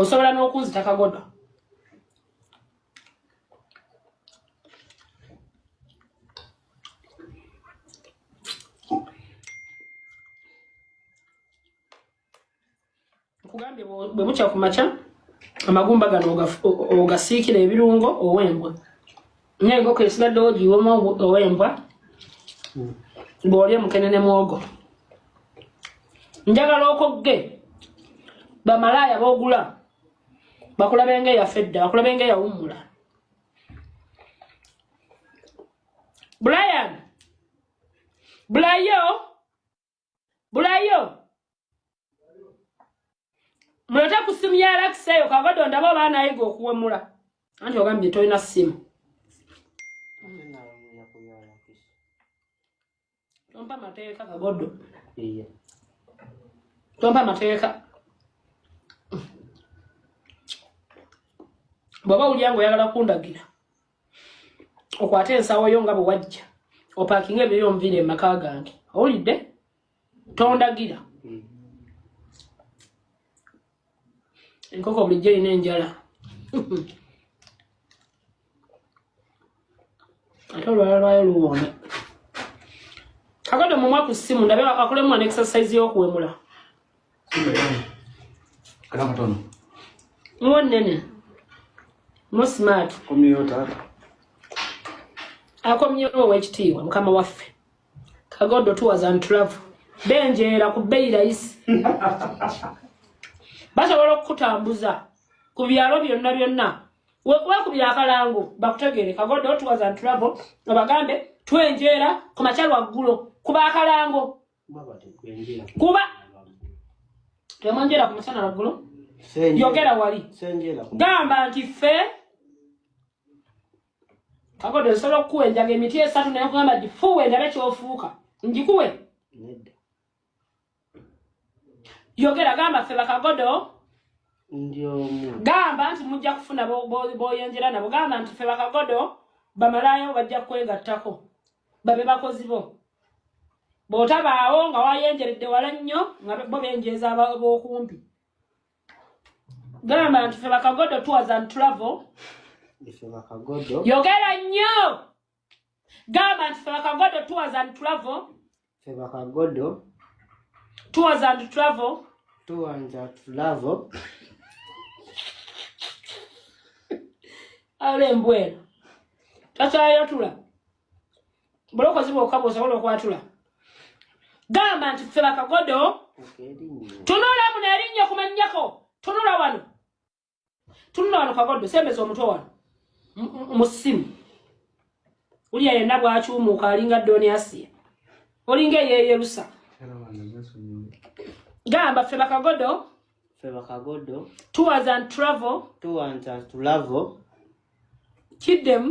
osobola n'okunzita kagodo nkugambye bwe bukya ku makya amagumba gano ogasiikira ebirungo owembwa naye enkoko esigaddewo ogiwoma owembwa hmm. bwolya omukene ne mwogo njagala okogge bamalaaya bogula bakulabe nga eyafa edda bakulabe nga eyawummula brian bulayo bulayo mulete ku simu ya alakisi eyo kavado ndaba oba anayiga okuwemula anti ogambye tolina simu tompa mateeka kagodo tompa mateeka bwaba wulya nga oyagala kundagira okwate ensawo yo nga bwe wajja opakinga ebyo yonviira emaka gange owulidde tondagira mm. enkoko bulijjo erina enjala ate olwala lwayo luwoome kakade omumwa ku ssimu ndabe akolemu an exercise y'okuwemula akakatono muwo nene mu smart komyewo taata akomyewo owekitiibwa mukama waffe kagodo tours and travel benjeera ku bbeyi layisi basobola okukutambuza ku byalo byonna byonna wekubira akalango bakutegeere kagodo tours and travel obagambe twenjeera ku makya lwaggulo kuba akalango kuba temwenjera ku musana waggulu yogera wali gamba nti ffe kakodo nsobola okukuwa enjaga emiti esatu naye kugamba nti fuwe ndabe kyofuuka njikuwe yogera gamba ffe bakagodo gamba nti mujja kufuna boyenjera nabo gamba nti ffe bakagodo bamalayo bajja kwegattako babe bakozi bo bw'otabaawo nga wayenjeredde wala nnyo nga bo benjeeza b'okumpi gamba nti fe bakagodo tours and travel yogera nnyo gamba nti fe bakagodo tours and travel ffe bakagodo tours and travel tours and travel ala embwera takyayatula bulokozi bwokaba osobola okwatula gamba nti ffe bakagodo tunulamu nerinnya kumanyako tunula wano tunula wano kagoddo sembeza omutwe wano mu simu uliya yenna bwakyumuuka alinga doni asiya olinga eyeyerusa gamba ffe bakagodo ffe bakagodo tours and travel tours and travel kiddemu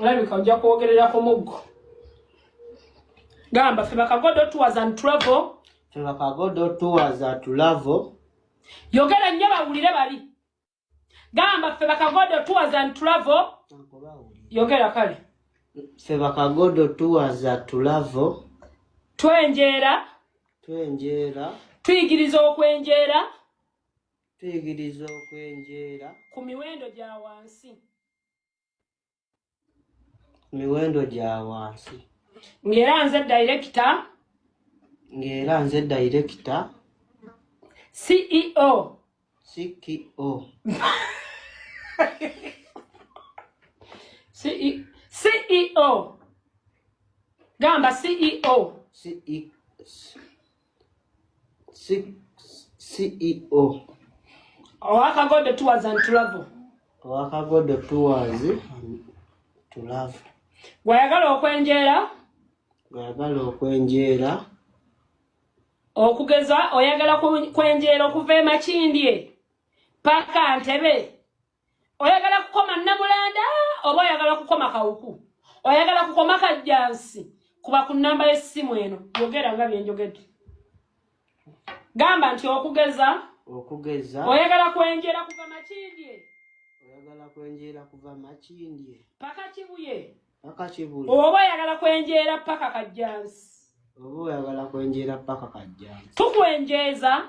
olabika ojja kwogerera ku muggo gamba fe bakagodo tours and travel fe bakagodo tours and travel yogera nnyo bawulire bali gamba fe bakagodo tours and travel yogera kale fe bakagodo tours and travel twenjeera twenjeera tuyigiriza okwenjeera Tuyigiriza okwenjeera. Ku miwendo gya wansi. Miwendo gya wansi. Ng'era nze dayirekita. Ng'era nze dayirekita. CEO. CEO. CEO. CEO. Gamba CEO. CEO. ceo owakagodo tours and travel owakagodo tours tulavu gwayagala okwenjeera gwayagala okwenjeera okugeza oyagala kwenjeera okuva emakindye paka ntebe oyagala kukoma namulanda oba oyagala kukoma kawuku oyagala kukoma kajjansi kuba ku namba y'essimu eno yogera nga byenjogedde gamba nti okugeza okugeza oyagala kwenjera kuva makindye oyagala kwenjera kuva makindye paka kibuye paka kibuye oba oyagala kwenjera paka kajjansi oba oyagala kwenjera paka kajjansi tukwenjeeza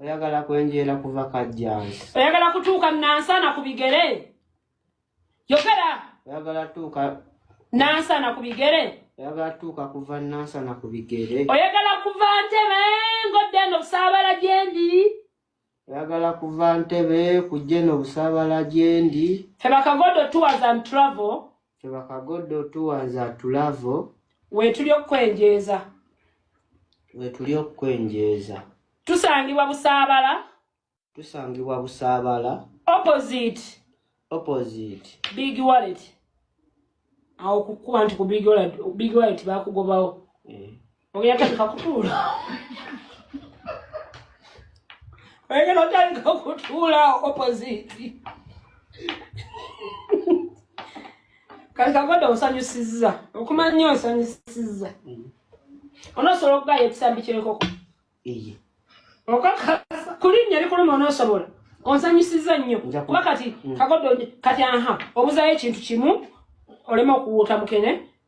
oyagala kwenjeera kuva kajjansi oyagala kutuuka nansana ku bigere yogera oyagala tuuka nansana ku bigere oyagala tuuka kuva nansana ku bigere oyagala kuva ntebe ngodde eno busaabala gyendi oyagala kuva ntebe kujja eno busaabala gyendi fe bakagodo tours and travel Tebakagodde otuwanza tulavo. Wetuli okukwenjeeza. Wetuli okukwenjeeza. Tusangibwa Busaabala. Tusangibwa Busaabala. Opposite. Opposite. Big wallet. Awo kukuba nti ku big wallet, big wallet bakugobawo. Eh. Oyatandika kutuula. Oyagala otandika kutuula opposite. Kati kagoda osanyusizza. Okumanya nnyo osanyusizza. Mm. Onosobola okugaya ekisambi ky'enkoko. Eye. Okakasa kulinnya likuluma onosobola. Onsanyusizza nnyo. Kuba kati mm. kagoda kati aha obuzayo ekintu kimu olema okuwuuta mukene.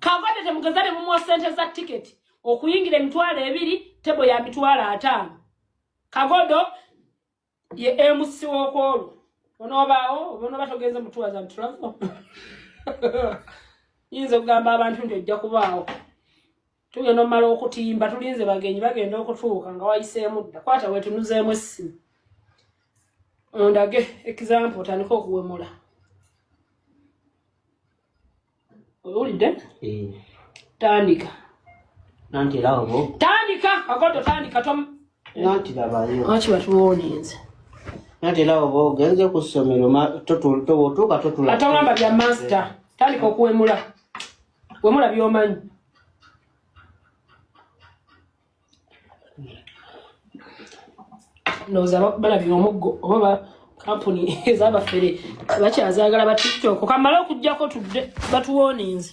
kavade temugeza ne mumuwa sente za tiketi okuyingira emitwalo ebiri tebo ya mitwalo ataano kagodo ye emusi wokwolwo onobaawo onoba togenze mutuwaza ntravo yinza okugamba abantu nti ojja kubaawo tugenda omumala okutimba tulinze bagenyi bagenda okutuuka nga wayiseemu dda kwata wetunuzeemu essimu ondage example otandika okuwemula owulidde eh. tandika nanti era obo tandika akoto tandika tom nanti labayo lwaki batuwoninze nanti era obo ogenze ku ssomero totuuka totula atawamba bya master tandika okuwemula wemula byomanyi ndowooza balabira omuggo oba kampuni ezabafere bakyazagala ba tiktok kamala okujjako tudde batuwoninze